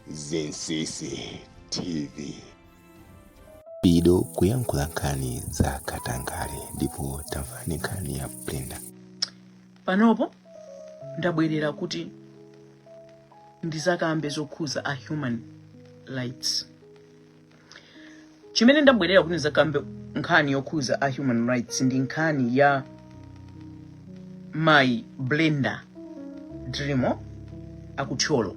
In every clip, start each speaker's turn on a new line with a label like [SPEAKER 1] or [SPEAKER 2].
[SPEAKER 1] Zinsisi TV.
[SPEAKER 2] Pido kuyankhula nkhani za katangale ndipo tamvani nkhani ya Brenda. panopo
[SPEAKER 3] ndabwerera kuti ndizakambe zokhuza a human rights chimene ndabwerera kuti ndizakambe nkhani yokhuza a human rights ndi nkhani ya mai Brenda Drimo akuthyolo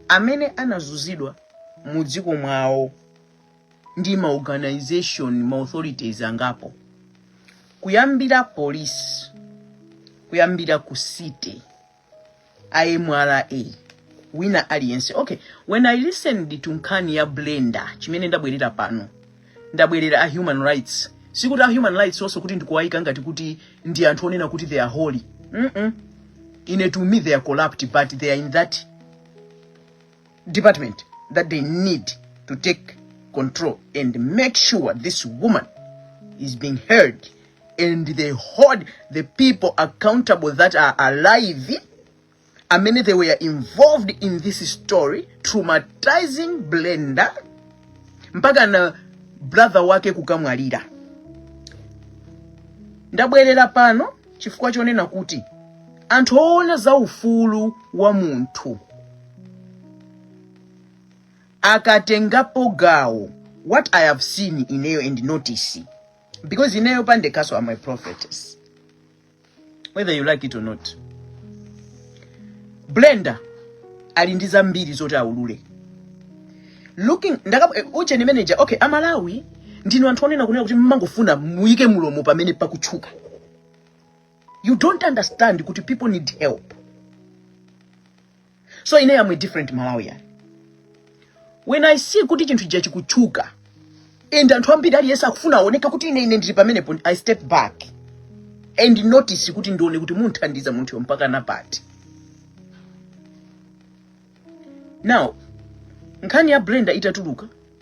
[SPEAKER 3] amene anazuzidwa mu dziko mwawo ndi ma organisation ma authorities angapo kuyambira polisi kuyambira ku city MRA wina aliyense okay when i listened to nkhani ya Brenda chimene ndabwerera pano ndabwerera a human rights sikuti a human rights also kuti ndikuwayika ngati kuti ndi anthu onena kuti they are holy mm -mm. ine to me they are corrupt but they are in that department that they need to take control and make sure this woman is being heard and they hold the people accountable that are alive amene they were involved in this story traumatizing Brenda mpaka na brother wake kukamwalira ndabwerera pano chifukwa chonena kuti anthu oona za ufulu wa munthu akatengapo gawo what i have seen ineyo and notice because ineyo pandekaso am a prophetess whether you like it or not Brenda ali ndi zambiri zoti aulule looking ndakap eh, ujeni manager okay amalawi ndinu anthu onena kunena kuti mmangofuna muyike mulomo pamene pakutchuka you don't understand kuti people need help so ine am a different malawian when i see kuti chinthu chija chikutchuka and anthu ambiri aliyense akufuna aoneke kuti ine ine ndili pamenepo i step back and notice kuti ndione kuti mumthandiza munthuyo mpaka napati now nkhani ya brenda itatuluka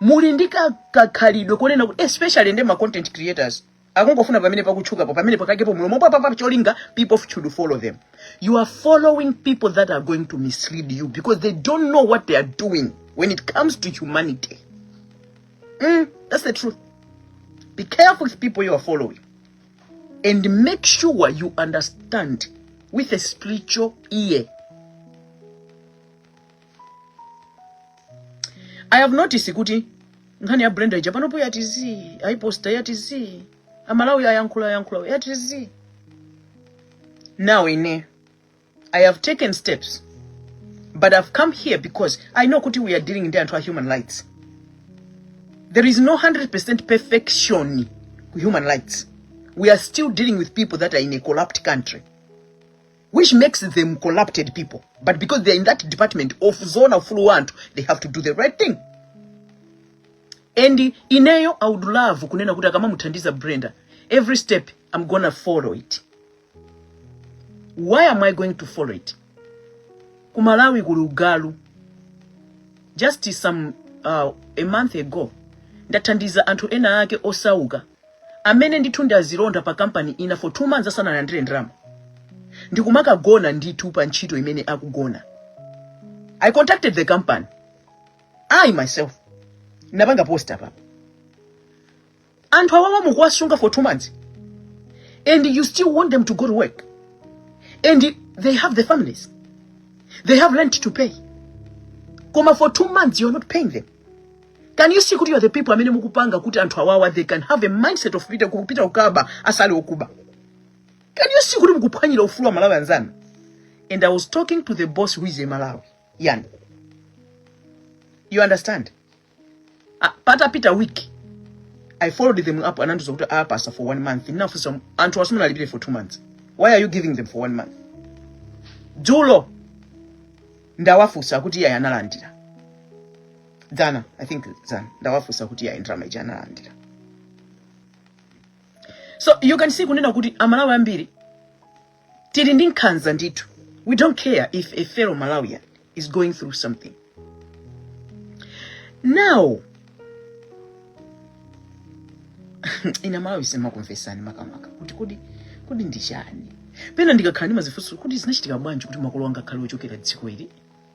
[SPEAKER 3] muli ndi ka- kakhalidwe konena kuti especially ndi ma content creators akungofuna pamene pakutchukapo pamene pakaikepo mlomo papapa cholinga people should follow them you are following people that are going to mislead you because they don't know what they are doing when it comes to humanity mm, that's the truth be careful with people you are following and make sure you understand with a spiritual ear i have noticed kuti nkhani ya brenda ija panopo yati zii ayiposta yati zii amalawi ayankhula ayankhula yati zii now ine i have taken steps but i've come here because i know kuti we are dealing ndi anthu a human rights there is no 100% perfection ku human rights we are still dealing with people that are in a corrupt country which makes them corrupted people but because they are in that department of zona ufulu wa anthu they have to do the right thing and ineyo i would love kunena kuti akamamuthandiza brenda every step i'm gonna follow it why am i going to follow it ku malawi kuli ugalu just some uh, a month ago ndathandiza anthu ena ake osauka amene ndithu ndi azilonda pa kampani ina for two months asanalandire ndalama ndikumakagona ndithu pa ntchito imene akugona i contacted the company i myself napanga post apapa anthu awawa mukuwasunga for two months and you still want them to go to work and they have the families they have rent to pay koma for two months you're not paying them Can you see kuti you are the people amene mukupanga kuti anthu awawa they can have a mindset of kupita kukaba asali okuba. Can you see kuti mukuphwanyira ufulu wa aMalawi anzanu? And I was talking to the boss who is a Malawi. Yani, you understand? Ah, patapita week I followed them up and andiuza kuti apatsidwa for one month. Ndinafunsa anthuwa simunawalipire for two months. Why are you giving them for one month? Dzulo ndawafunsa kuti iye analandira. dzana i think dzana ndawafunsa kuti ya ndalama ija analandira so you can see kunena kuti amalawi ambiri tili ndi nkhanza ndithu we don't care if a fellow malawian is going through something now ine amalawi simakumvetsani makamaka kuti kodi kodi ndi chani pena ndikakhala ndimadzifunsa kuti zinachitika bwanji kuti makolo anga akhale ochokera dziko ili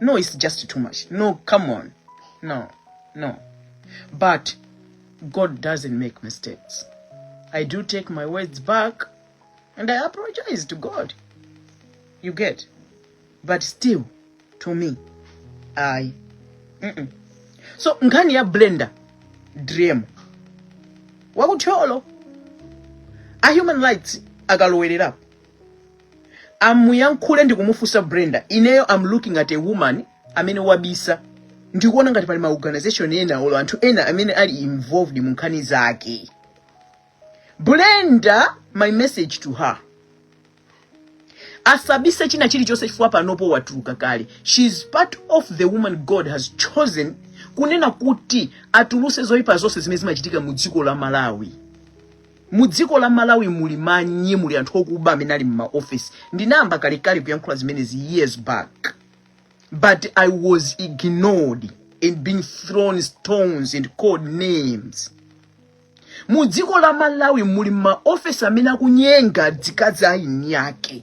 [SPEAKER 3] no it's just too much no come on no no but god doesn't make mistakes i do take my words back and i apologize to god you get but still to me i mm -mm. so nkhani ya blender dream wakuthyolo a human rights akalowererapo amuyankhule ndi kumufunsa Brenda ineyo i'm looking at a woman amene wabisa ndikuona ngati pali ma organization ena olo anthu ena amene ali involved mu nkhani zake Brenda my message to her asabise china chilichonse chifukwa panopo watuluka kale she is part of the woman god has chosen kunena kuti atuluse zoyipa zonse zimene zimachitika mu dziko la malawi mu dziko la malawi muli manye muli anthu okuba amene ali mmaofesi ndinayamba kalekale kuyankhula zimenezi years back but i was ignored and being thrown stones and called names mu dziko la malawi muli mmaofesi amene akunyenga azikazi a eni ake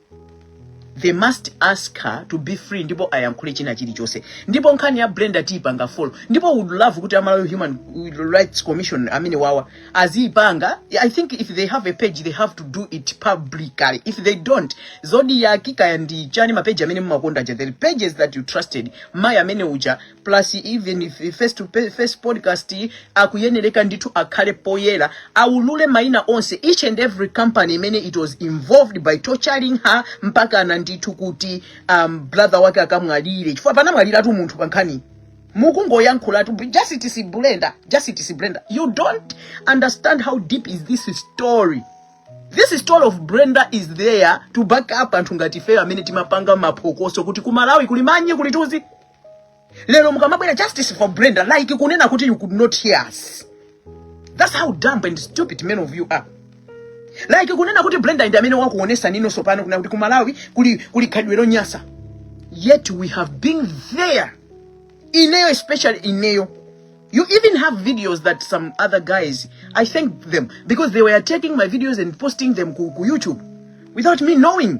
[SPEAKER 3] they must ask her to be free ndipo ayankhule china chilichonse ndipo nkhani ya brenda tiipanga follow ndipo would love kuti amalawi human rights commission amene wawa aziipanga i think if they have a page they have to do it publicly if they don't zodiak kaya ndi chiyani mapeji amene mumakonda aja the pages that you trusted mayi amene uja plus even if if first to pe- first podcast iyi, akuyenereka ndithu akhale poyera aulule maina onse each and every company imene it was involved by torturing her mpaka ana ndithu kuti um, brother wake akamwalire chifukwa panamwaliratu munthu pa nkhani mukungoyankhulatu justice brenda justice brenda you don't understand how deep is this story this story of brenda is there to back up anthu ngati ifeyo amene timapanga maphokoso kuti kumalawi kuli manye kuli tudzi lero mukamabwera justice for brenda like kunena kuti you could not hear us that's how dumb and stupid men of you are like kunena kuti brenda ndi amene wakuonesa nino sopano kuna kuti kumalawi kuli, kuli khalidwe lonyasa yet we have been there ineyo especially ineyo you even have videos that some other guys i thank them because they were taking my videos and posting them ku, ku youtube without me knowing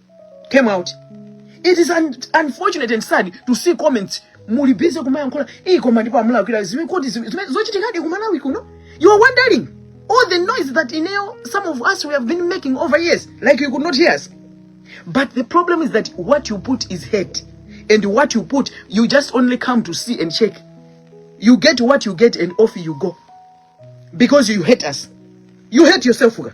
[SPEAKER 3] came out it is un unfortunate and sad to see comments muli busy kumayankhula iyi koma ndipo amulakwira zimene kodi zime- zime- zochitikadi kumalawi kuno you are wondering all the noise that ineyo some of us we have been making over years like you could not hear us but the problem is that what you put is hate and what you put you just only come to see and check you get what you get and off you go because you hate us you hate yourself Uga.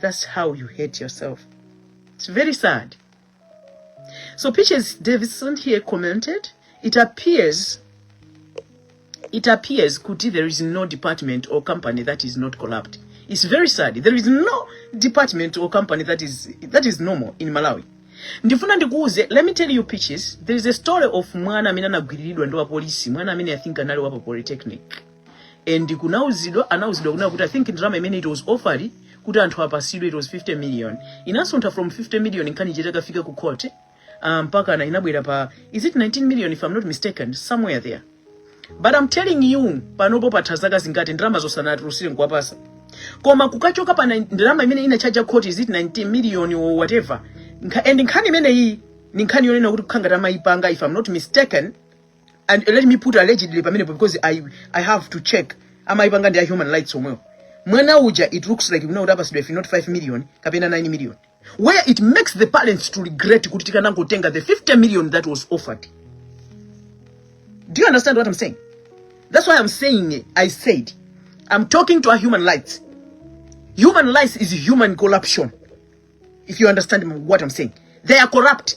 [SPEAKER 3] That's how you hate yourself. It's very sad. So Peaches Davidson here commented, it appears it appears Kuti there is no department or company that is not corrupt. It's very sad. There is no department or company that is that is normal in Malawi. ndifuna ndikuuze let me tell you pitches there is a story of mwana amene anagwiriridwa ndi wapolisi mwana amene i think anali wa pa polytechnic and kunauzidwa anauzidwa kunena kuti i think ndalama imene it was offered kuti anthu apatsidwe it was 50 million inasuntha from 50 million nkhani ija itakafika ku court ah, mpaka na inabwera pa is it 19 million if i'm not mistaken somewhere there but i'm telling you panopo patha zaka zingati ndalama asanatulutsire nkuwapatsa koma kukachoka pa nine- ndalama imene inachaja court is it 19 million or whatever Nkha, and nkhani imeneyi ni nkhani yonena kuti takhala tikuyipanga if i'm not mistaken and let me put allegedly pamenepo because i i have to check amayipanga ndi a human rights omwewo mwana uja it looks like kunena kuti apasidwa if not 5 million kapena 9 million where it makes the parents to regret kuti tikanangotenga the 50 million that was offered do you understand what i'm saying that's why i'm saying eh, i said i'm talking to a human rights human rights is human corruption if you understand what i'm saying they are corrupt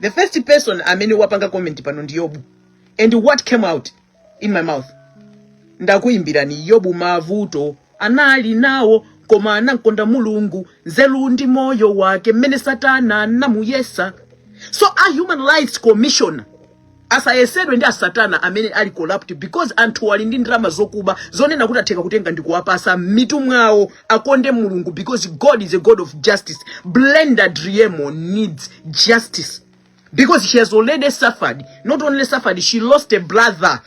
[SPEAKER 3] the first person amene wapanga comment pano ndi yobu and what came out in my mouth ndakuimbirani yobu mavuto anali nawo koma anamkonda mulungu nzeru ndi moyo wake mmene satana anamuyesa so a human rights commissioner asayesedwe ndi asatana amene ali corrupt because anthu ali ndi ndalama zokuba zonena kuti atheka kutenga ndi kuwapatsa m'mitu mwawo akonde mulungu because god is a god of justice brenda driemo needs justice because she has already suffered not only suffered she lost a brother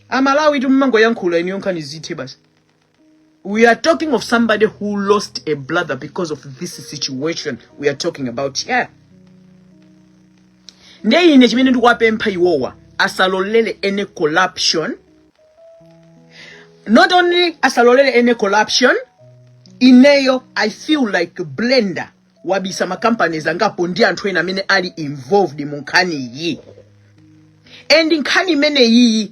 [SPEAKER 3] amalawi timumangoyankhula ineyo nkhanizi zithe basi We are talking of somebody who lost a brother because of this situation we are talking about here. Ndiye ine chimene ndikuwapempha iwowa asalolere any corruption. Not only asalolere any corruption, ineyo I feel like Brenda wabisa ma companies angapo ndi anthu ena amene ali involved mu nkhani iyi. And nkhani imene iyi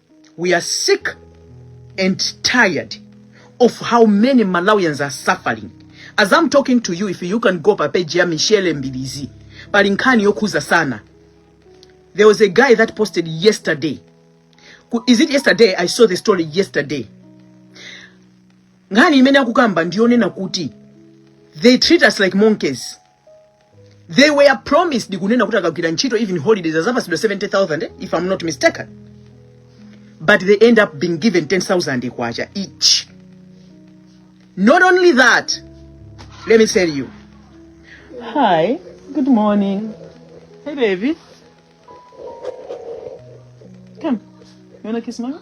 [SPEAKER 3] We are sick and tired of how many Malawians are suffering. As I'm talking to you, if you can go pa page ya Michelle Mbilizi, pali nkhani yokhuza sana. There was a guy that posted yesterday. Ku- Is it yesterday? I saw the story yesterday. Nkhani imene akukamba ndiyonena kuti they treat us like monkeys. they were promised kunena kuti akagwira ntchito even holidays azapasidwa 70000 eh, if i'm not mistaken but they end up being given 10000 kwacha each not only that let me tell you hi good morning hey baby come you wanna kiss mama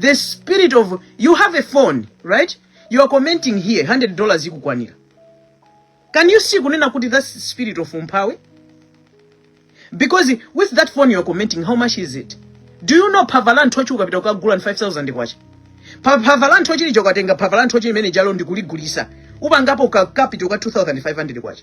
[SPEAKER 3] the spirit of you have a phone right you are commenting here 100 dollars ikukwanira can you see kunena kuti that's spirit of umphawi because with that phone you are commenting how much is it do you know phava la nthochi ukapita kukagula ni 5000 kwacha Pa- phava la nthochi lijalo ukatenga phava la nthochi limene lijalo ndikuligulisa upangapo ka capital ka 2500 kwacha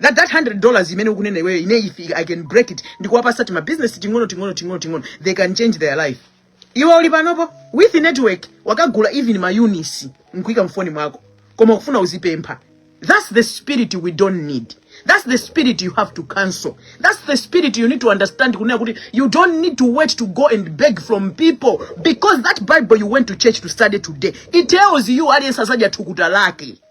[SPEAKER 3] that that 100 dollars imene ukunena iweyo ine if i can break it ndikuwapasa tima business ting'ono ting'ono ting'ono ting'ono they can change their life iwe uli panopo with network wakagula even ma units nkuika mfoni mwako koma ukufuna uzipempha that's the spirit we don't need that's the spirit you have to cancel that's the spirit you need to understand kunena kuti you don't need to wait to go and beg from people because that bible you went to church to study today it tells you aliyense azadya thukuta lake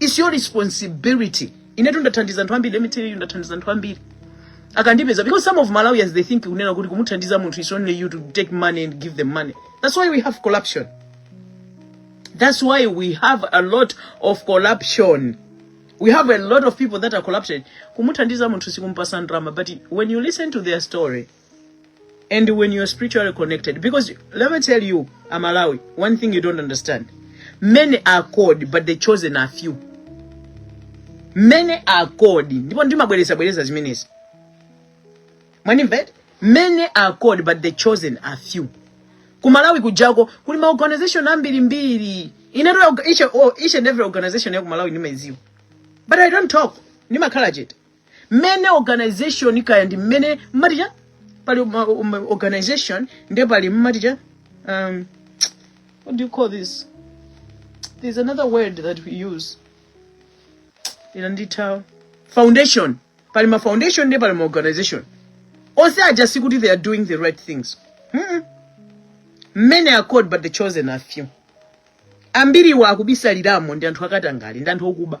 [SPEAKER 3] It's your responsibility. Inetu ndathandiza anthu ambiri, let me tell you ndathandiza anthu ambiri. Akandipeza because some of Malawians they think kunena kuti kumuthandiza munthu is only you to take money and give them money. That's why we have corruption. That's why we have a lot of corruption. We have a lot of people that are corrupted. Kumuthandiza munthu sikumpasa ndalama, but when you listen to their story, and when you're spiritually connected because let me tell you amalawi one thing you don't understand many are called but the chosen are few many are called ndipo ndimabwereza bwereza zimenezi mwanimvet many are called but the chosen are few kumalawi kujako kuli maorganization ambirimbiri inatoa each, oh, each and every organization ya kumalawi ndimaiziwa but i don't talk ndimakhala chete many organization kaya ndi mmene mmati cha pali ma- um, organization nde pali mmati cha um, what do you call this there's another word that we use ina nditha foundation pali ma foundation nde pali ma organization onse aja sikuti they are doing the right things Mm-mm. many are called but the chosen are few ambiriwa akubisaliramo ndi anthu akatangale ndi anthu okuba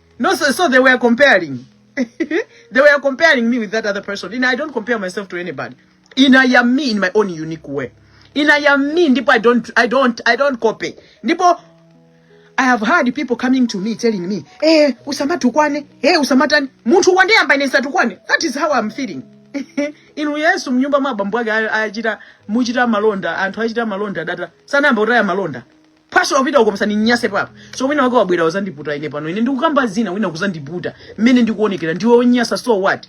[SPEAKER 3] No, so, so they were comparing. they were comparing me with that other person. And I don't compare myself to anybody. In I am me in my own unique way. In I am me, ndipo I don't I don't I don't copy. Ndipo I have heard people coming to me telling me, eh, usamatukwane, eh, usamatani. Munthu wandiyamba ine satukwane. That is how I'm feeling. inu yesu mnyumba mwa bambo ake a- achita muchita malonda anthu achita malonda data sanayamba kutaya malonda pastor wapita uko msandinyase papa so wina wake wabwera wazandiputa ine pano ine ndikukamba zina wina kuzandiputa mmene ndikuonekera ndiwe onyasa so what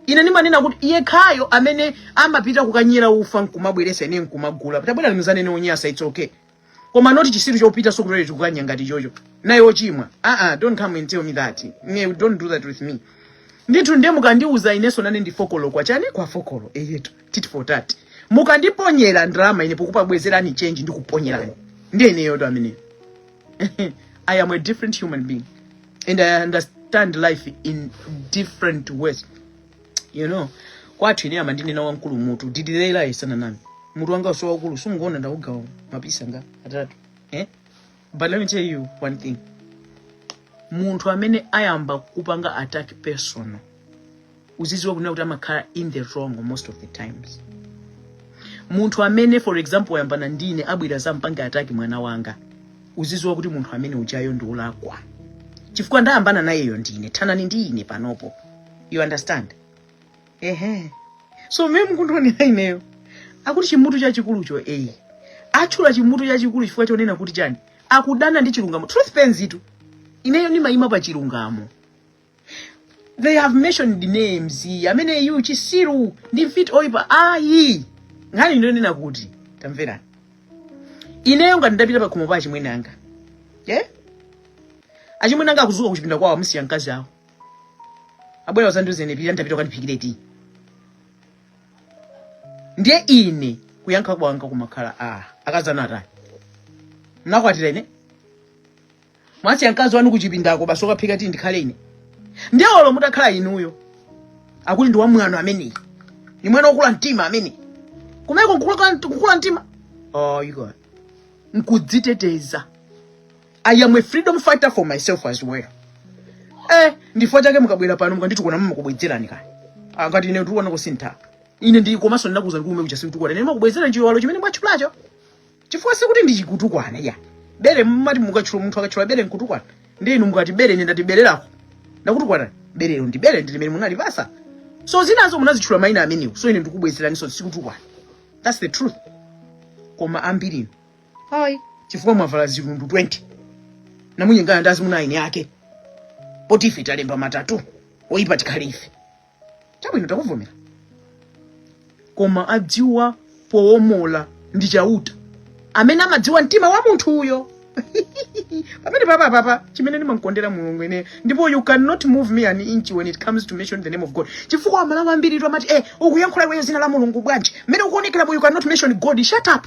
[SPEAKER 3] ine ndimanena kuti iye yekhayo amene amapita kukanyera ufa nkumabweresa ine nkumagula tabwera limuzanene onyasa it's okay koma not chisiru chopita so kutole tikukanya ngati chocho naye ochimwa ah ah don't come and tell me that ne don't do that with me ndithu ndiye mukandiuza ineso nane ndi fokolo kwa chani kwa fokolo eyetu tit for tat mukandiponyera drama ine pokupabwezerani change ndikuponyerani ndi ineyo ndi amene i am a different human being and i understand life in different ways you know kwathu ine amandinena wamkulu mutu didilela isana nami mutu wanga uwuso waukulu simukuona ndaugawa ma pizza ngati atatu eh? but let me tell you one thing munthu amene ayamba kupanga attack personal uziziwa kunena kuti amakhala in the wrong most of the times munthu amene for example wayambana ndine abwera azampange attack mwana wanga uziziwa kuti munthu amene ujayo ndi olakwa chifukwa ndayambana nayeyo ndine thanani ndi ine panopo you understand ehe so mmene mukundionera ineyo akuti chimutu chachikulucho eyi atchula chimutu chachikulu chifukwa chonena kuti chani akudana ndi chilungamo truth pains-tu ineyo ndimayima pa chilungamo they have mentioned names amene yu chisiru ndi mfiti oyipa ayi nkhani ndiyonena kuti tamverani ineyo ngati ndapita pa khomo pa achimwene anga yeah? achimwene anga akuzuka kuchipinda kwawo amasiya mkazi awo abwera uzandiuze ine pita ndapita ukandiphikire tiyi ndiye ine kuyankha kwanga kumakhala akazanu atani mnakwatira ine mwasiya mkazi wanu kuchipindako basi okaphika tiyi ndikhale ine ndiye olo mutakhala inuyo akuti ndi wamwano ameneyi ni mwana wokula mtima ameneyi kumeneko nkukula mtima oh, you got nkudziteteza i am a freedom fighter for myself as well eh ndichifukwa chake mukabwera pano mukanditukwana nmakubwezerani kani ngati ine ndikuona kusintha ine ndi komanso ndinakuuzani kumene kuja sikutukwana ine nmakubwezera chiwalo chimene mwatchulacho chifukwa sikuti ndi chikutukwana ya bere mmati mukatchula munthu akatchula bere nkutukwana ndi inu mukati bere ine ndati bere lako ndakutukwana berelo ndi bere ndi limene munalipasa so zinazo munazitchula maina amenewo so ine ndikubwezeraniso sikutukwana that's the truth koma ambiri ayi chifukwa mwavala zilundu 20 namanyengana ndi azimuna a eni ake poti ife talemba ma tattoo oyipa tikhale ife chabwino takuvomera koma adziwa powombola ndi chauta amene amadziwa mtima wa munthu uyo pamene papa papa chimene ndimamkondera mulungu ine ndipo you cannot move me an inch when it comes to mention the name of god chifukwa amalawi ambiritu amati eh ukuyankhula iweyo zina la mulungu bwanji mmene ukuonekeramo you cannot mention god shut up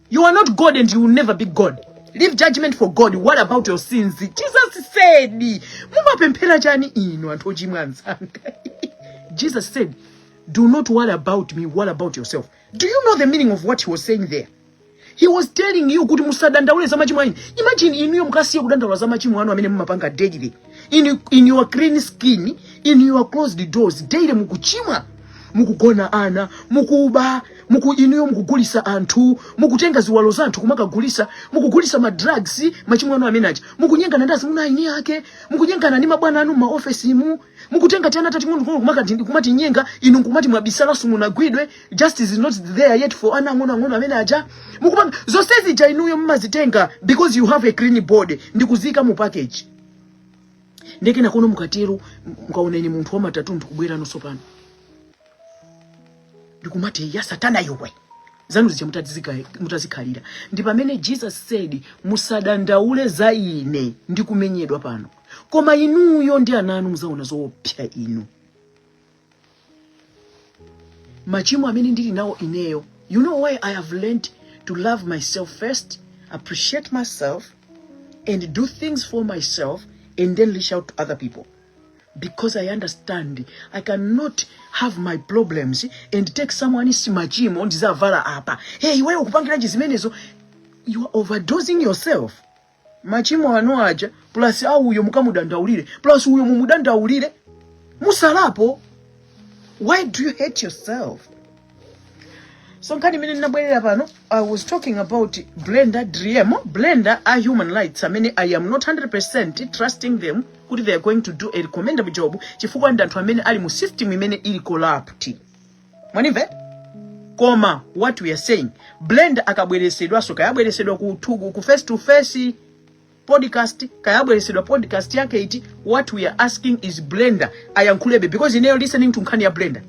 [SPEAKER 3] You are not God and you will never be God. Leave judgment for God. What about your sins? Jesus said, Mumapemphera chani inu anthu ochimwa anzanga. Jesus said, Do not worry about me, worry about yourself. Do you know the meaning of what he was saying there? He was telling you kuti musadandaule za machimo anu. Imagine inuyo mukasiye kudandaula za machimo anu amene mumapanga daily. in, in your clean skin in your closed doors daily mukuchimwa mukugona ana mukuba muku inuyo mukugulisa anthu mukutenga ziwalo za anthu kumakagulisa mukugulisa ma drugs machimo anu amene aja mukunyengana ndi azimuna a eni ake mukunyengana ndi mabwana anu m'maofesimu mukutenga tiana tating'ono kumakatinyenga inu nkumati mwabisala simunagwidwe justice is not there yet for ana ang'ono ang'ono amene aja mukupanga zonse zija inuyo mumazitenga because you have a clean body ndikuziika mu package nde kenakono mukatero mukaona ine munthu wama tattoo ndikubweranso pano ndikumati ya satana iwe zanu zija mutazika- mutazikhalira ndi pamene jesus said musadandaule za ine ndikumenyedwa pano koma inuyo ndi ana anu muzaona zoopsa inu machimo amene ndili nawo ineyo you know why i have learned to love myself first appreciate myself and do things for myself and then reach out to other people because i understand i cannot have my problems and take someone is machimo ndizavala apa hey iweyo ukupangiranji zimenezo you are overdosing yourself machimo anu aja plus a uyo mukamudandaulire plus uyo mumudandaulire musalapo why do you hate yourself so nkhani imene ndinabwerera pano i was talking about brenda driemo brenda a human rights amene i am not 100 trusting them kuti they are going to do a recommendable job chifukwa ndi anthu amene ali mu system imene ili corrupt mwanimve koma what we are saying Brenda akabweresedwanso kayabweresedwa ku, to- ku face to face podcast kayabweresedwa podcast yake iti what we are asking is Brenda ayankhulebe because ineyo listening to nkhani ya Brenda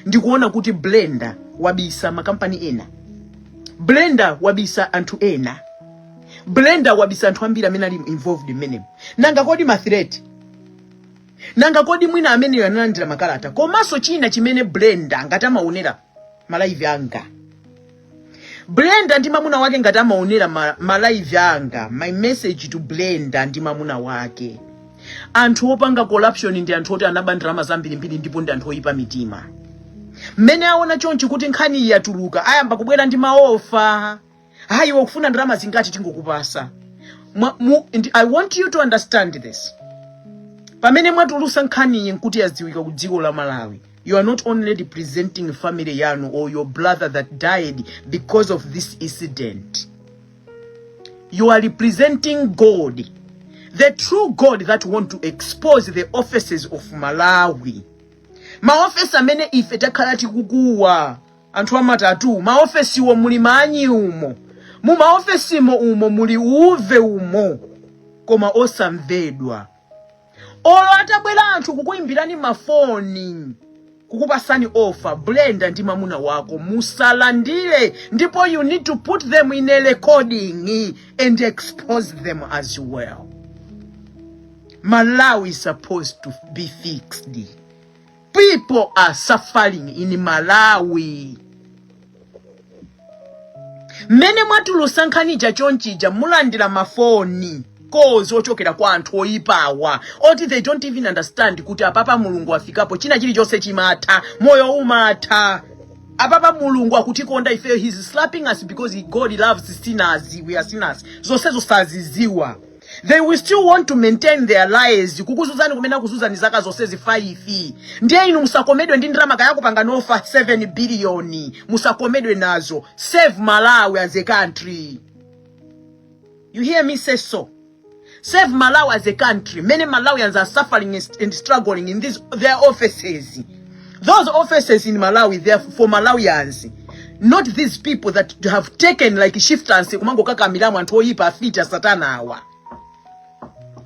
[SPEAKER 3] ndikuona kuti Brenda wabisa makampani ena Brenda wabisa anthu ena Brenda wabisa anthu ambiri amene ali involved mmenemo nanga kodi ma threat nanga kodi mwina amene analandira makalata komanso china chimene brenda ngati amaonera malaivi anga brenda ndi mamuna wake ngati amaonera ma- malaivi anga my message to brenda ndi mamuna wake anthu opanga corruption ndi anthu oti anaba ndalama zambirimbiri ndipo ndi anthu oyipa mitima mmene aona chonchi kuti nkhani iyi yatuluka ayamba kubwera ndi maofa hayi iwe ukufuna ndalama zingati tingokupasa i want you to understand this pamene mwatulusa nkhaniyi nkuti yadziwika ku dziko la malawi you are not only representing family yanu or your brother that died because of this incident you are representing god the true god that want to expose the offices of malawi maofesi amene ife takhala tikukuwa anthu amatatu maofesiwo muli manyi umo mu maofesimo umo muli uve umo koma osamvedwa olo atabwera anthu kukuimbirani mafoni kukupasani ofa Brenda ndi mamuna wako musalandire ndipo you need to put them in a recording and expose them as well malawi is supposed to be fixed People are suffering in Malawi. Mmene mwatulusa nkhani ja chonchija mulandira ma phone calls ochokera kwa anthu oyipawa oti they don't even understand kuti apapa mulungu wafikapo china chilichonse chimatha moyo umatha apapa mulungu akutikonda ifeyo he's slapping us because god loves sinners we are sinners zonsezo saziziwa they will still want to maintain their lies kukuzuzani kumene akuzuzani zaka zonse zifayifi ndiye inu musakomedwe ndi ndalama kaya akupangani offer 7 biliyoni musakomedwe nazo save malawi as a country you hear me say so save malawi as a country many malawians are suffering and struggling in these, their offices Those offices in Malawi, they are for Malawians. Not these people that have taken like shifters kumangokakamiramo anthu oyipa afita satana awa.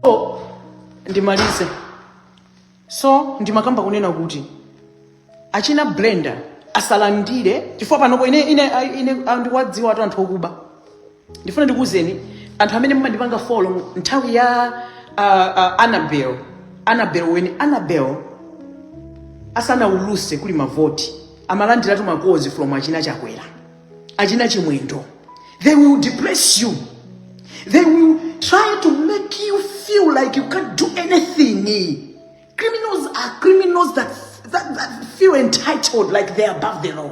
[SPEAKER 3] So, ndimalize. So, ndimakamba kunena kuti achina Brenda asalandire chifukwa panopo ine ine ine ndikuwadziwatu anthu okuba. ndifuna ndikuwuzeni anthu amene mumandipanga follow mu- nthawi ya uh, uh, annabel annabel when annabel asanawuluse kuli mavoti amalandiratu ma calls from achina chakwera achina chimwendo they will depress you they will try to make you feel like you can't do anything criminals are criminals that, that, that feel entitled like they're above the law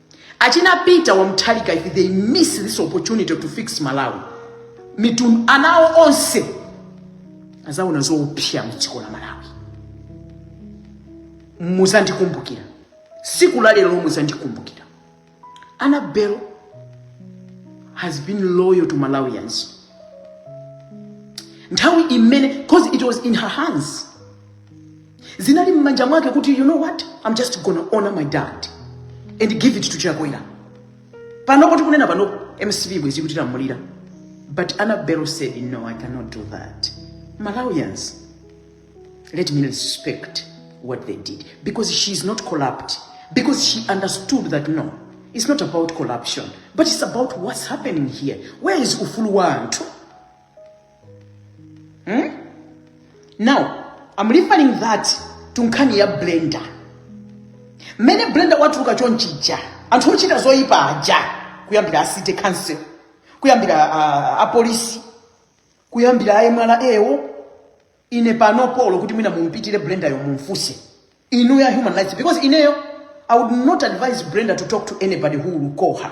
[SPEAKER 3] Achina Peter wa Mutharika, if they miss this opportunity to fix Malawi, mitundu anawo onse azaona zoopsa mdziko la Malawi. Muzandikumbukira siku la lero, muzandikumbukira. Annabel has been loyal to Malawians. Nthawi imene, because it was in her hands zinali m'manja mwake kuti you know what i'm just gonna honor my dad and give it to chakwera panopo tikunena panopo mcp bwezi kuti lamulira but annabel said no i cannot do that malawians let me respect what they did because she is not corrupt because she understood that no it's not about corruption but it's about what's happening here where is ufulu wa anthu hmm? now i'm referring that to nkhani ya brenda mmene brenda watuluka chonchija anthu ochita zoyipa aja kuyambira city council kuyambira uh, apolisi kuyambira a mra wo ine panopo olo kuti mwina mumpitire brenda yo mumfuse inuyo a human rights because ineyo i would not advise brenda to talk to anybody who will call her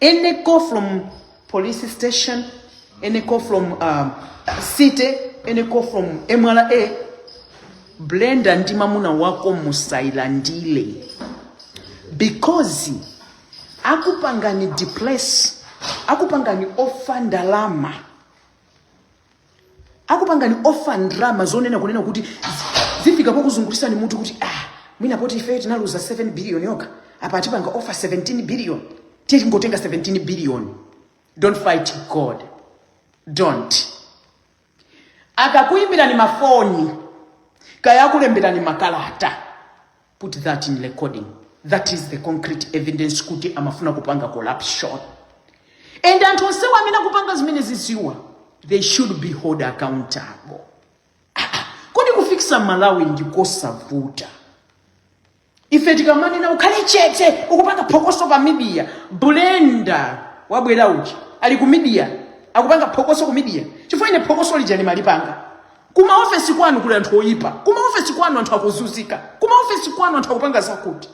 [SPEAKER 3] any call from police station any call from um, city any call from mra brenda ndi mamuna wako musailandile because akupangani depress akupangani offer ndalama akupangani offer ndrama zonena kunena kuti zifika pokuzungulisani mutu kuti ah mwina poti ife tinaluza 7 billion yoka apa atipanga offer 17 billion tiye tingotenga 17 billion don't fight god don't akakuyimbirani mafoni kaya akulemberani makalata put that in recording that is the concrete evidence kuti amafuna kupanga corruption and anthu onsewo amene akupanga zimenezizi wa they should be hold accountable kodi kufikisa malawi ndikosavuta ife tikamanena ukhale chete ukupanga phokoso pa media brenda wabwera uchi ali ku media akupanga phokoso ku media chifukwa ine phokoso lija ndimalipanga Kuma ofesi kwanu kuli anthu oyipa. Kuma ofesi kwanu anthu akuzuzika. Kuma ofesi kwanu anthu akupanga zakuti.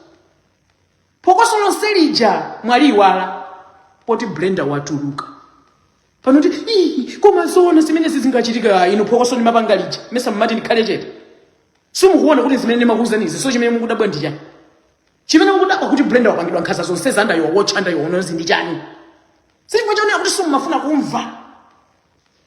[SPEAKER 3] Phokoso lonse lija mwaliiwala. Poti Brenda watuluka. Pano ti, ii, koma zona zimene zizingachitika ine phokoso nimapanga lija. Mesa mmati nikhale chete. Simukuona kuti zimene nimakuuzani zi. So chimene mukudabwa ndi chani. Chimene mukudabwa kuti Brenda wapangidwa nkhaza zonsezi under your watch under your nose ndi chani. Simukuchionera kuti simumafuna kumva.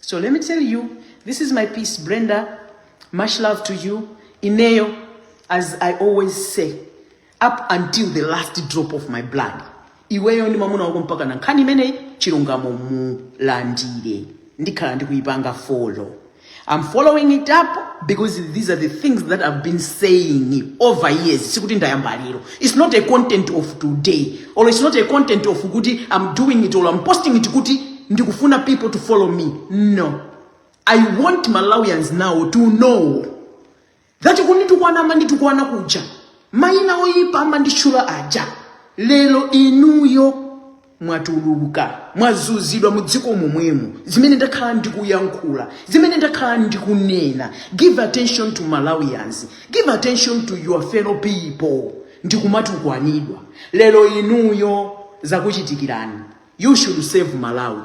[SPEAKER 3] So let me tell you, this is my piece, Brenda. Much love to you. Ineyo, as I always say, up until the last drop of my blood. Iweyo ndi mamuna wako mpaka na nkhani imeneyi chilungamo mulandire. Ndikhala ndikuipanga follow. I'm following it up because these are the things that I've been saying over years. Sikuti ndayamba lero. It's not a content of today or it's not a content of kuti I'm doing it or I'm posting it kuti ndikufuna people to follow me. No. I want Malawians now to know that kunditukwana amanditukwana kuja maina oyipa amanditchula aja lero inuyo mwatuluka mwazuzidwa mu dziko momwemo zimene ndakhala ndikuyankhula zimene ndakhala ndikunena give attention to malawians give attention to your fellow people ndikumatukwanidwa lero inuyo zakuchitikirani you shouldn't answer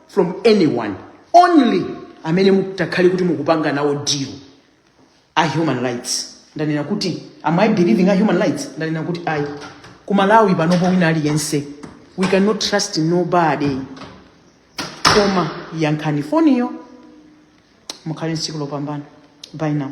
[SPEAKER 3] from anyone only amene mutakhale kuti mukupanga nawo deal a human rights ndanena kuti am i believing a human rights ndanena kuti ayi ku malawi panopo wina aliyense we cannot trust nobody koma yankhani foniyo mukhale ndi tsiku lopambana bye now